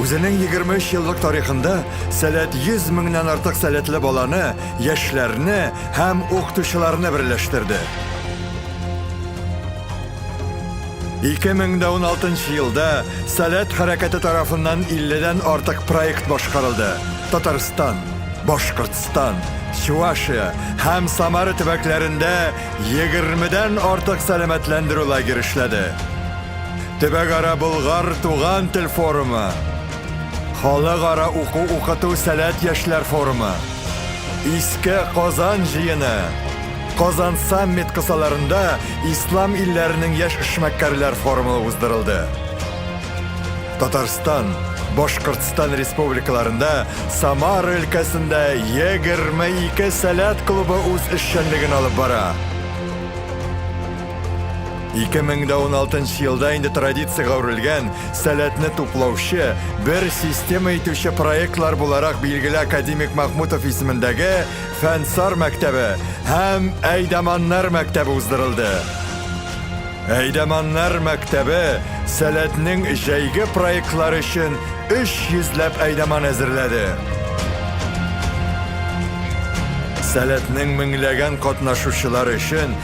Үзенең 23 еллык тарихында Сәләт 100 меңнән артык сәләтле баланы, яшьләрне һәм укытучыларны берләштерде. 2016 елда Сәләт хәрәкәте тарафыннан 50 дән артык проект башкарылды, Татарстан, Башкортстан, Чувашия һәм Самара төбәкләрендә 20 дән артык сәламәтләндерү лагеры эшләде. Төбәкара Болгар туган тел форумы, Халыкара уку-укыту сәләт яшьләр форумы, Иске Казан җыены, Казан саммит кысаларында Ислам илләренең яшь эшмәкәрләр форумы уздырылды. Татарстан, Башкортстан республикаларында Самара өлкәсендә 22 сәләт клубы үз эшчәнлеген алып бара. 2016 елда инде традициягә әверелгән сәләтне туплаучы, бер система итүче проектлар буларак билгеле академик Махмутов исемендәге Фәнсар мәктәбе һәм Әйдаманнар мәктәбе уздырылды. Әйдаманнар мәктәбе сәләтнең җәйге проектлары өчен 300 ләп әйдаман әзерләде. Сәләтнең меңләгән катнашучылары өчен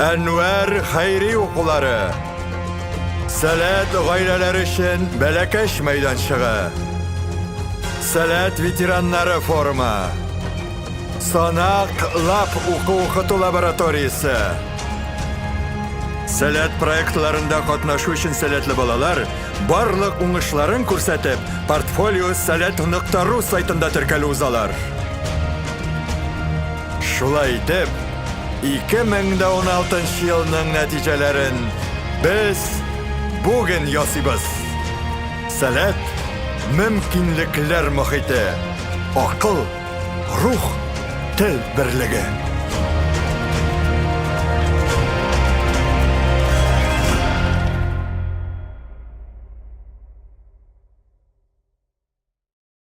Әнвәр хәйри укулары. Сәләт гаиләләр өчен бәләкәч мәйданчыгы. Сәләт ветераннары форумы. Санак лап уку укыту лабораториясе. Сәләт проектларында катнашу өчен сәләтле балалар барлык уңышларын күрсәтеп, портфолио сәләт.ру сайтында теркәлү узалар. Шулай итеп, 2016 елның нәтиҗәләрен без бүген ясыйбыз. Сәләт, мөмкинлекләр мохите, акыл, рух, тел берлеге.